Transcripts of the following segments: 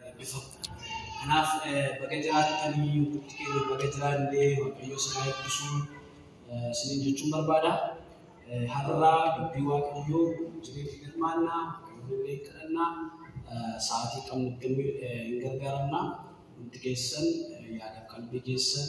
eebbifamtu. Kanaaf baga jiraattanii hundi keenya baga jiraannee waaqayyo sana eebbisuu isiniin jechuun barbaada. Har'a dubbii waaqayyoo jireenya hirmaannaa walii kadhannaa sa'aatii qabnutti hin gargaaramna. Hundi keessan yaada qalbii keessan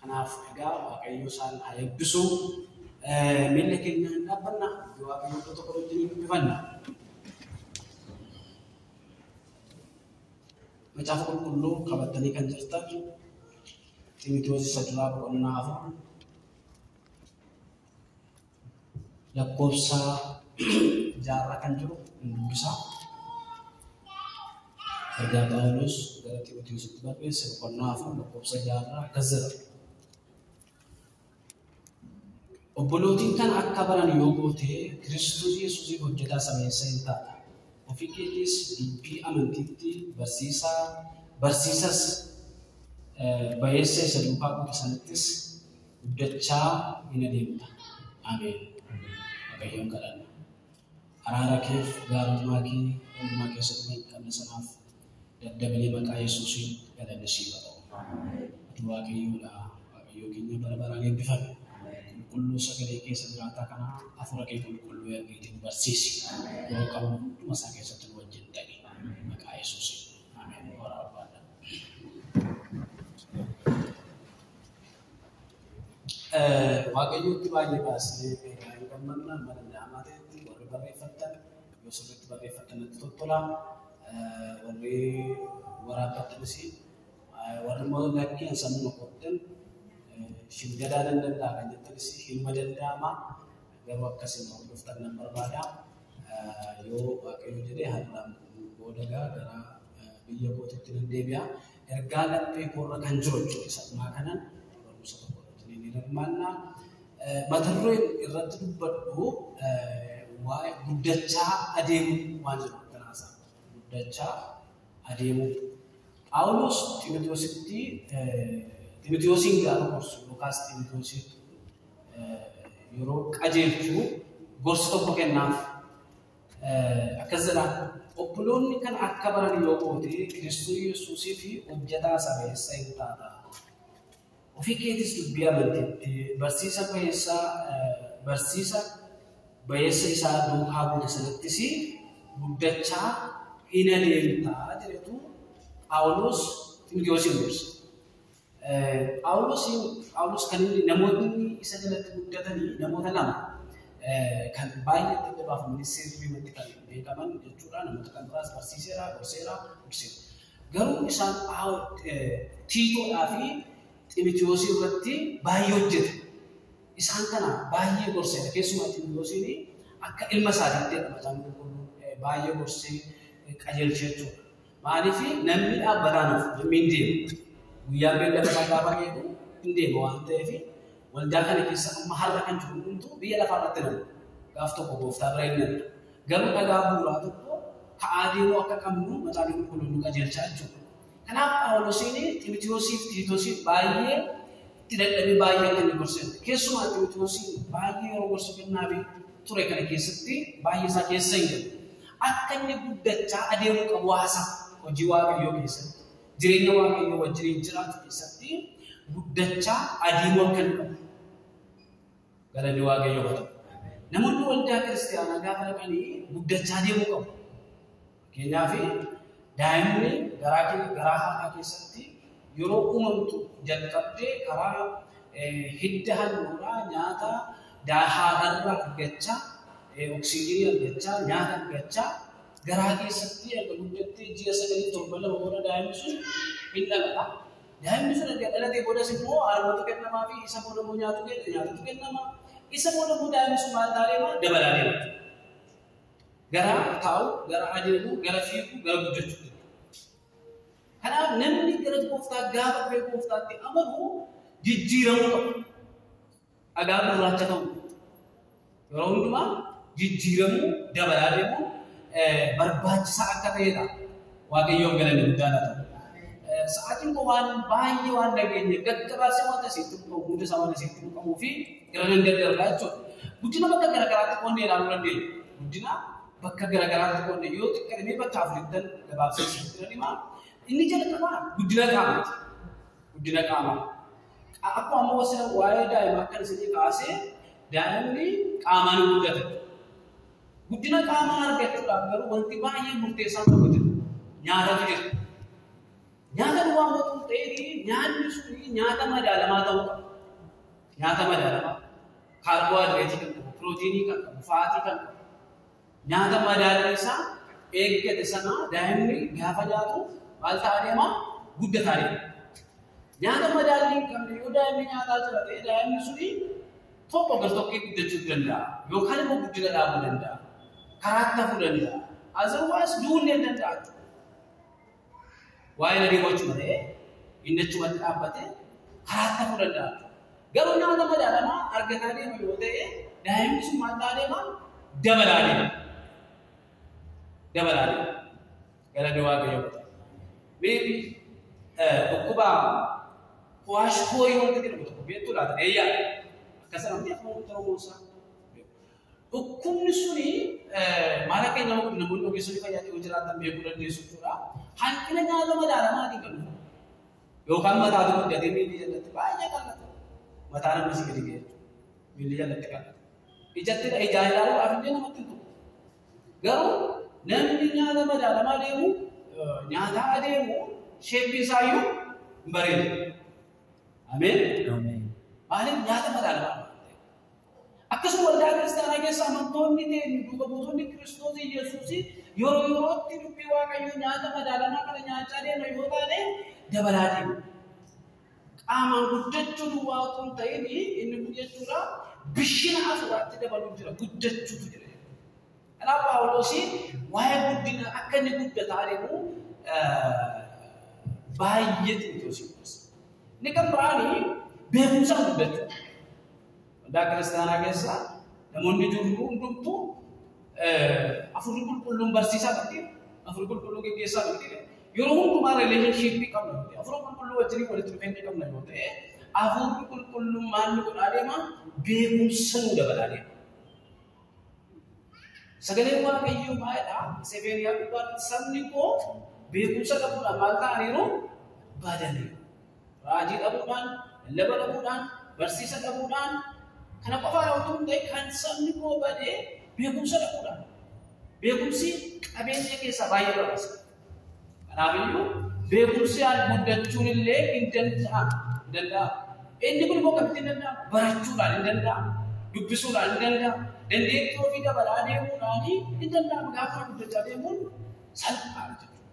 Kanaaf egaa Waaqayyo isaan haa eebbisu. Miilla keenyaan hin dhaabbanna. Hojii Waaqayyo iddoo tokko wajjin hin dubbifanna. Macaafa qulqulluu qabattanii kan jirtan Ximitiyoos isa duraa boqonnaa afur lakkoofsa jaarraa kan jiru hin dubbisa. Ergaa Phaawulos gara Ximotewositti barreesse boqonnaa afur lakkoofsa jaarraa akkas jedha. Obbolootiin kan akka baran yoo goote Kiristoos Yesuusii hojjetaa sameessa hin taata. Ofii keetiis dubbii amantiitti barsiisaa barsiisas bayeessa isa duukaa buute sanattis guddachaa hin adeemta. Ameen. Waaqayyoon kadhanna. Araara keef gaarummaa kee hundumaa keessatti kan qabne sanaaf daddabilii maqaa Yesuusiin galanni siif haa ta'u. Ati Waaqayyoodha. Waaqayyoo keenya bara baraan eebbifame. Qulqulluu sagalee keessa jiraataa kana hafuura kee qulqulluu ergiitiin barsiisi. Yeroo qabu hunduma isaa keessatti nu wajjin ta'i. Maqaa Yesuusiin. Ameen. Horaa barbaadha. Waaqayyootti baay'ee baasnee baay'ee gammanna mana ilaamaa ta'etti warri barreeffattan yoo sirriitti barreeffattan natti toltola warri waraabbattanis warri immoo lakkeen sammuu qottan shin gadaa nan danda'a kan jettanis hinuma danda'ama garuu akkasiin hordoftan nan barbaada yoo waaqayyo jedhee har'aan booda gara biyya kootitti nan deebi'a Ergaa laphee koorra kan jiru jechuudha. Sabnaa kanan barumsa tokko irratti ni hirmaannaa. Mata dureen irratti dubbadhu waa'ee guddachaa adeemuu waan jedhu kanaasa. Guddachaa adeemuu. Phaawulos Ximitiyoositti Ximitiyoosiin gaafa gorsu yookaas Ximitiyoosiin yeroo qajeelchu gorsa tokko kennaaf. Akkas jedha, Obboloonni kana akka baran yoo goote, Kiristoos Yesuusii fi hojjetaa sabeessa in taata. Ofii keetis dubbii amantiitti, barsiisa bayeessa, barsiisa bayeessa isaa duukaa buute sanattis guddachaa in adeemta jedhetu Phaawulos Ximotewosiin gorsa. Phaawulosiin Phaawulos kan inni namoonni isa jalatti guddatanii namoota lama kan baay'ee itti gabaafamanii seerri irratti kan beekaman jechuudha. Namoota kan biraas barsiiseera, gorseera, gorseera. Garuu isaan Tiitoodhaa fi Ximitiyoosii irratti baay'ee hojjete. Isaan kana baay'ee gorseera. Keessumaa Ximitiyoosiin akka ilma isaatiitti jedhama isaan qulqulluun baay'ee gorsee qajeelchee jechuudha. Maaliif namni dhaabbataan of namni hin deemu. Guyyaa beellama isaa gaafa eegu hin deema waan ta'eef waldaa kana keessa amma har'a kan jiru hundumtuu biyya lafaa irratti nama. Gaaf tokko gooftaa bira hin namne. Garuu dhagaa bu'uuraa tokko ka'aa deemuu akka qabnu mataan qulqulluun nu qajeelchaa jechuudha. Kanaaf Phaawulosiin Ximitiyoosiif Tiitoosiif baay'ee itti dadhabee baay'ee akka inni gorseera. Keessumaa Ximitiyoosiin baay'ee yeroo gorsa kennaafii ture kana keessatti baay'ee isaa keessa hin galu. akka inni guddachaa adeemuu qabu haasa'u. Hojii Waaqayyoo keessatti, jireenya Waaqayyoo wajjiniin jiraatu keessatti guddachaa adeemuu akka inni qabu. Galanni Waaqayyoo haa ta'u. Namoonni waldaa kiristaanaa gaafa dhaqanii guddachaa adeemuu qabu. Fakkeenyaaf daa'imni garaa kee- garaa haadhaa keessatti Yeroo uumamtu jalqabdee karaa hidda halluudhaa nyaata haadharraa argachaa, oksijiinii argachaa, nyaata argachaa garaa keessatti erga guddattee ji'a sagalii torban lama booda daa'imni sun hin dhalata. Daa'imni sun erga dhalatee boodas immoo haadhumatu kennamaa fi isa booda immoo nyaatu kenna nyaatatu kennama. Isa booda immoo daa'imni sun maal taa'ee maal dabalaa deema. Gara taa'u, gara adeemu, gara fiigu, gara guddachuu. Kanaaf namni gara gooftaa gaafa dhufee gooftaatti amanu jijjiiramuu qaba. Dhagaa gurraacha ta'u. Yeroo hundumaa jijjiiramuu dabalaa deemuu eh, barbaachisaa akka ta'edha. Waaqayyoon galanni guddaa laata. Eh, Sa'aatiin koo waan baay'ee waan dhageenye gaggabaabsee wanta isin tuqqamu hunda isaa wanta isin tuqqamuu fi gara nan gaggarbaa jechuudha. Guddina bakka garaagaraatti qonnee ilaaluu dandeenya. Guddina bakka garaagaraatti qoodne yoo xiqqate mee bakka afurittan gabaabsee isinitti nan hima. Inni jalqabaa guddina qaamaati. Guddina qaamaa. Qa- Akkuma amma wasila waa'ee daa'imaa kan isinii kaasee daa'imni qaamaan hin guddata. Guddina qaamaa argachuudhaaf garuu wanti baay'ee murteessaan tokko jira. Nyaatatu jira. Nyaata duwwaa immoo tun ta'ee nyaanni suni nyaata madaalamaa ta'uu qaba. Nyaata madaalamaa. kaarboohayidireetii kan qabu, pirootiinii kan qabu, faatii kan qabu. Nyaata madaalli isaa eeggate sana daa'imni gaafa nyaatu maal ta'a deema? Guddataa deema. Nyaata madaalli hin qabne yoo daa'imni nyaataa jira ta'e daa'imni suni tokko gar tokkee guddachuu danda'a. Yookaan immoo guddina dhaabuu danda'a. Karaatti hafuu danda'a. Azawwaas duullee danda'a. Waa'ee ladii gochuu ta'ee inni achumatti dhaabbatee karaa ta'uu danda'a. Garuu nama nama daadhamaa argataa deema yoo ta'e daa'imni sun maal ta'aa deema? Dabalaa deema. Dabalaa deema. Gara dawaa biyya godha. Beebi dhukkuba kuwaash koorii wanta jedhamu tokko beektuu laata? Eeyyaa. Akkasuma wanti akkuma ta'uu gosa. Dhukkubni suni maal akka nama godhu namoonni ogeessonni fayyaa yoo jiraatan beekuu dandeessu jechuudha. Hanqina nyaata madaalamaatiin kan dhufu. Yookaan mataa tokko gatee miilli jalatti baay'ee qal'ata. Mataa namni si gadi ga'e miilli jalatti qal'ata. Ijatti ijaan ilaaluudhaaf illee namatti hin tolu. Garuu namni nyaata madaalamaa deemu nyaataa adeemu sheeppiin isaa iyyuu hin bareedu. Ameen. Ameen. Maaliif nyaata madaalamaa? Akkasuma waldaa kiristaanaa keessa amantoonni keenya duuka buutonni Kiristoos Yesuus yeroo yerootti dubbii Waaqayyoo nyaata madaalamaa kana nyaachaa deema yoo taane dabalaa deema. Qaamaan guddachuu duwwaa otoo hin ta'in inni kun jechuudha bishina hafuuraatti dabaluu jira guddachuutu jira. Kanaaf Paawuloosii waa'ee guddina akka inni guddataa deemu baay'ee xiinxaluu Inni kan biraanii beekumsaan guddachuu. Waldaa kiristaanaa keessa namoonni jirru hundumtuu afurri qulqulluun barsiisaa turte. Afurri qulqulluu geggeessaa turte. Yeroo hundumaa rileeshinshiippii qabna turte. Afurri qulqulluu wajjin walitti dhufeenya qabna yoo ta'e afurri qulqulluun maal nu godhaa deema? Beekumsa nu dabalaa deema. Sagaleen Waaqayyoo baay'eedha. Sebeeniyaa gubbaatti sabni koo beekumsa qabuudhaan maal ta'aniiru? Baadaniiru. Raajii dhabuudhaan, lallaba dhabuudhaan, barsiisa dhabuudhaan, kana qofaadha utuu hin ta'in kan sabni koo badee beekumsa dhabuudhaan. Beekumsi qabeenya keessaa baay'ee barbaachisa. Kanaaf iyyuu beekumsi al guddachuun illee hin danda'amu. Hin danda'amu. Inni kun immoo akkamitti hin danda'amu? Barachuudhaan hin danda'amu. Dubbisuudhaan hin danda'amu. Dandeettii ofii dabalaa deemuudhaan hin danda'amu. Gaafa guddachaa deemuun salphaadha jechuudha.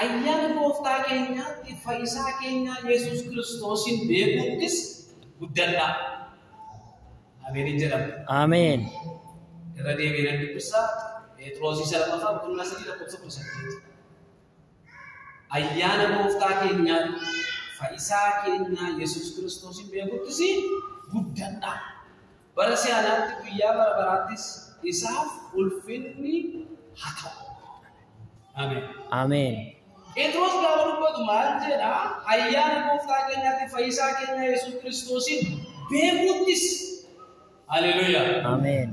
Ayyaana gooftaa keenyaatti fayyisaa keenyaa Yesuus Kiristoosiin beekuuttis guddadha. Ameen jedhama. Ameen. Irra deebiin dubbisa Pheexroosii salmataa boqonnaa sadii lakkoofsa kudha saddeet. Ayyaana gooftaa keenyaa fayyisaa keenyaa Yesuus Kiristoosiin beekuuttis guddadha. Bara si'anaatti guyyaa bara baraattis isaaf ulfinni haa ta'u. Ameen. Ameen. Phexros gaafa dubbatu maal jedha? Ayyaana gooftaa keenyaatti fayyisaa keenya Yesuus Kiristoosiin beekuuttis. Haleluyaa. Ameen.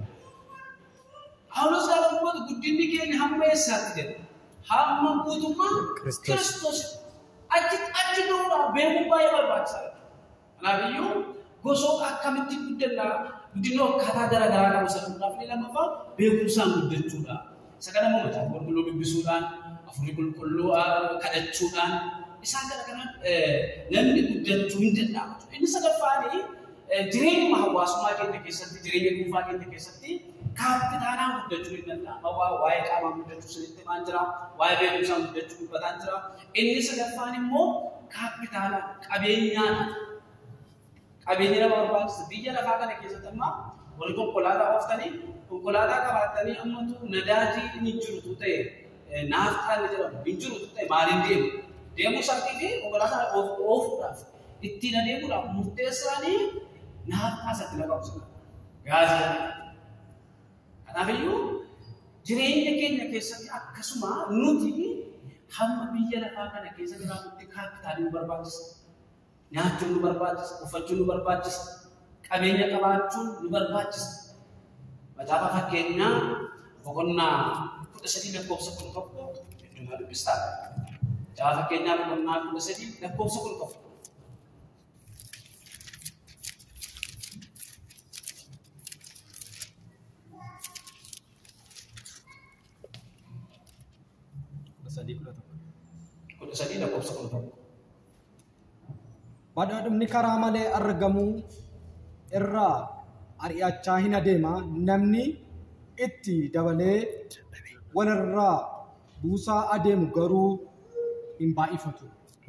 Phaawulos gaafa dubbatu guddinni keenya hamma eessaatti jedha? Hamma guutummaa Kiristoos. Kiristoos. Achi achi ga'uudhaaf beekuun baay'ee barbaachisaadha. Kanaafiyyuu gosoota akkamitti guddanna guddinni akkaataa gara garaa qabu isa fuudhaaf inni lammaffaa beekumsaan guddachuudha. Isa kana immoo macaafa qulqulluu dubbisuudhaan afurii qulqulluu kadhachuudhaan isaan kana kana namni guddachuu hin danda'amu. Inni sadaffaan jireenyuma hawaasummaa keenya keessatti jireenya dhuunfaa keenya keessatti kaappitaalaan guddachuu hin danda'ama. Waa'ee qaamaa guddachuu sanitti himaan jira. Waa'ee beekumsaan guddachuu dubbataan jira. Inni sadaffaan immoo kaappitaala qabeenyaadha. Qabeenya nama barbaachisa. Biyya lafaa kana keessatti amma wal konkolaataa ooftanii konkolaataa qabaattanii ammatu nadaajii inni jirutu ta'e naaftaan ni jedhamu hin jirutu ta'e maaliin deemu? Deemuu isaatii fi konkolaataa oofuudhaaf ittiin adeemuudhaaf murteessaanii naaftaa isatti na qabsiisa. Gaazii Kanaafiyyuu jireenya keenya keessatti akkasuma nuti hamma biyya lafaa kana keessa jiraatutti kaappitaalii nu barbaachisa. Nyaachuun nu barbaachisa, uffachuun nu barbaachisa, qabeenya qabaachuun nu barbaachisa. Macaafa fakkeenyaa boqonnaa kudha sadii lakkoofsa kudha tokko heddumaa dubbistaa. Macaafa fakkeenyaa boqonnaa kudha sadii lakkoofsa kudha tokko. kudha sadii lakkoofsa kudha tokko. Badhaadhumni karaa malee argamu irraa ari'achaa hin adeema namni itti dabalee walirraa buusaa adeemu garuu hin baay'ifatu.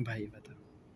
baay'ifata.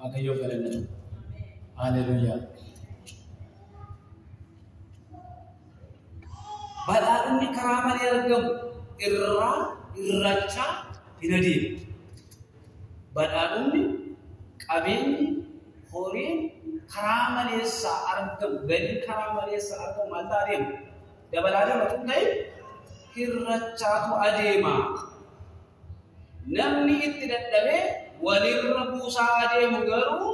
Waaqayyoof galanni jiru. Haaleluyyaa. Badhaadhinni karaa malee argamu irraa irrachaa hin adeemu. Badhaadhinni qabeenyi horiin karaa maleessaa argamu galii karaa maleessaa argamu maal ta'a adeemu? Dabalaa dabalatu ta'e hirrachaatu adeema. Namni itti dadhabee walirra buusaa adeemu garuu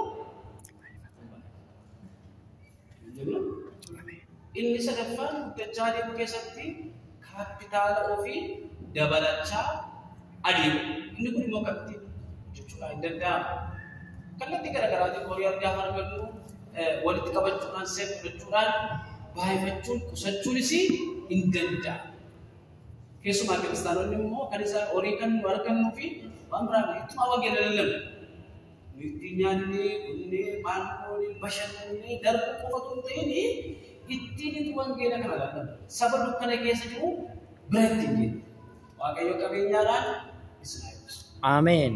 inni sadaffaan guddachaa adeemu keessatti kaapitaala ofii dabalachaa adeemu. Inni kun immoo akkamitti jechuudha hin danda'amu. Kallattii garaagaraatiin horii argaa kan argannu walitti qabachuudhaan seef fudhachuudhaan baay'ifachuun qusachuunis hin danda'amu. Keessumaa kiristaanonni immoo kan isaa horii kan nu argannuu fi waan biraa nu ittuma wangeela lallabu. Nu itti nyaannee, dhugnee, maal goonee, bashannannee darbuu qofa osoo hin ta'in ittiin itti wangeela kana lallabu. Saba dukkana keessa jiru bira ittiin deemu. Waaqayyo qabeenyaadhaan isin haa eebbisu. Ameen.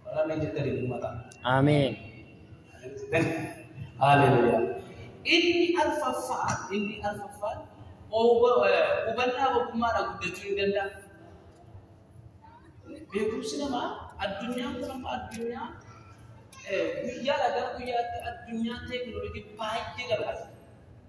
Warra mee jetta deemu mataa. Ameen. Haleluyaa. Inni arfaffaa, inni arfaffaa oba- eh, hubannaa ogummaadhaan guddachuu hin danda'amu. Beekumsi namaa addunyaan kun amma addunyaa eh, guyyaadhaa gara guyyaatti addunyaa teekinooloojii baay'ee dabalata.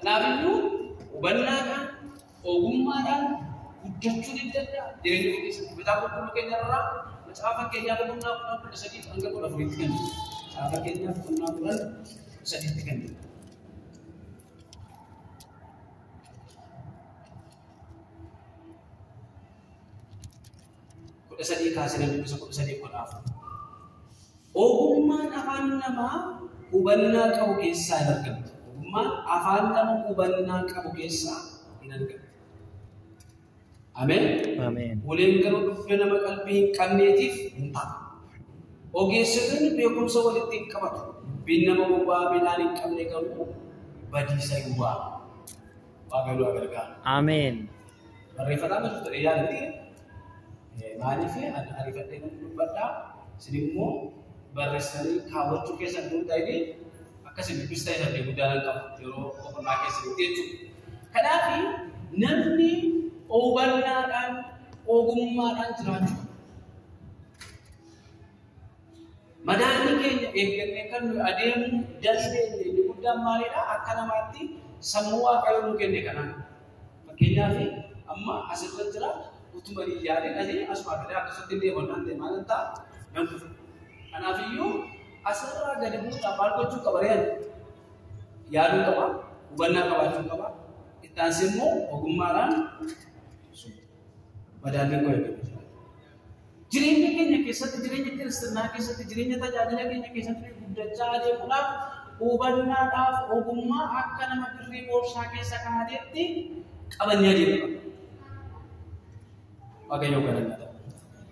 Kanaafiyyuu hubannaadhaan, ogummaadhaan guddachuu ni danda'a. Jireenya kee keessatti mataa qulqulluu keenya irraa macaafa fakkeenyaa boqonnaa kudhan kudha sadii hanga kudha afuriitti kan jiru. Macaafa fakkeenyaa boqonnaa kudhan kudha sadiitti kan jiru. kudha sadii kaasanii dubbisa kudha sadii kudha afur. Ogummaan afaan namaa hubannaa qabu keessaa hin argamtu. Ogummaan afaan nama hubannaa qabu keessaa hin argamtu. Ameen. Ameen. Uleen garuu dhufna nama qalbii hin qabneetiif hin ta'a. Ogeessitoonni beekumsa walitti hin qabatu. Dubbiin nama gowwaa midhaan hin qabne garuu badiisa hin waamu. Waaqayyo nu gargaara. Ameen. Barreeffataa miti ture yaadni maaliif ariifadhee nuuf dubbadhaa isin immoo barreessanii kaawwachuu keessan hundaa'ee akkasii dubbista irratti guddaa nan qabu yeroo boqonnaa keessan jechuudha. Kanaaf namni hubannaadhaan ogummaadhaan jiraachuu Madaallii keenya eeggannee kan nuyi adeemuu dandeenye inni guddaan maalidha? Akka namaatti sammuu Waaqayyo nuu kenne kanaan. Fakkeenyaaf amma asirra jira utuma hin yaadin asii asumaa galee akkasumatti hin deeman naan ta'e maal hin ta'a? Nan kufa. Kanaafiyyuu asirraa gadi buusaa maal gochuu qaba re'an? Yaaduu qaba, hubannaa qabaachuu qaba. Itti aansee immoo ogummaadhaan madaalliin koo eeggatu. Jireenya keenya keessatti, jireenya kiristinnaa keessatti, jireenya tajaajila keenya keessatti guddachaa adeemuudhaaf hubannaadhaaf ogummaa akka nama birrii boorsaa keessa kaa'ateetti qabannee adeemudha. Waaqayyoo galanna.